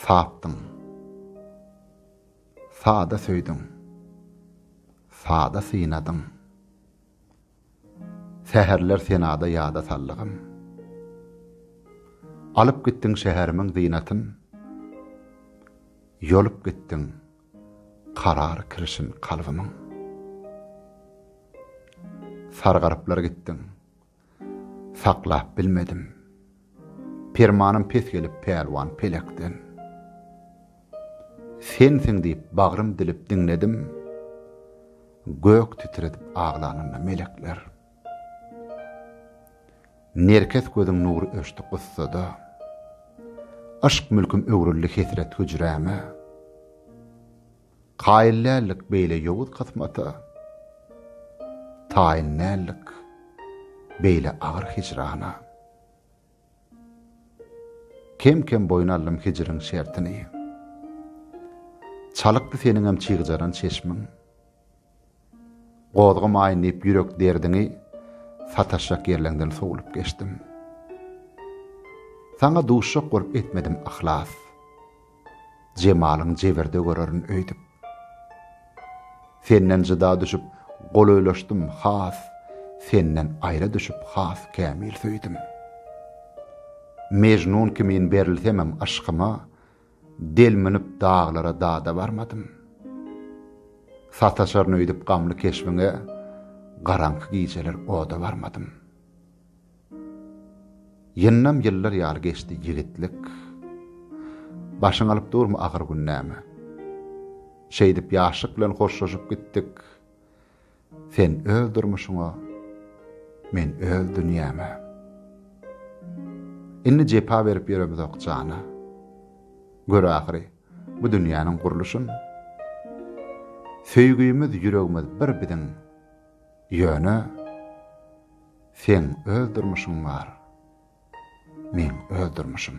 Sapdyň. Sada söýdüň. Sada synadyň. Säherler senada ýada sallygym. Alyp gitdiň şäherimiň zynatyn. Ýolup gitdiň karar kirişin kalbymyň. Sargaryplar gitdiň. Saklap bilmedim. Permanym pes gelip pälwan pelekden. Sensiň diýip bagrym dilip diňledim. Gök titredip aglanynda melekler. Nerkes gözüň nury öçdi gussada. Yşk mülküm öwrüldi hesret hüjräme. Kaýyl däldik beýle ýowuz kysmata, Taýyn däldik beýle agyr hijrana. Kem-kem boýun aldym hijriň şertini, Çalykdy seniňem çygjaran çeşmiň. Gozgamaýyn diýip ýürek derdiňi sataşjak ýerleňden sowlup geçdim. Saňa duşjak bolup etmedim yhlas. Jemalyň jebirde görerin öýdüp. Senden jyda düşüp golaýlaşdym has, senden aýra düşüp has kämil söýdüm. Mejnun kimin berilsemem yşkyma, Delminip daglara dada barmadym. Sataşaryn öýdüp gamly keşbiňe, garaňky gijeler oda barmadym. Ýyndam ýyllar ýaly geçdi ýigitlik. Başyň alyp durmy agyr gün näme? Şeýdip ýaşlyk bilen hoşlaşyp gitdik. Sen öz durmuşyňa, men öz dünýäme. Indi jepa berip ýöremizok jana. Gör ahyry bu dünýäniň gurluşyn. Söýgümiz ýüregimiz bir biziň. Ýöne seň öz durmuşyň bar. Meň öz durmuşym.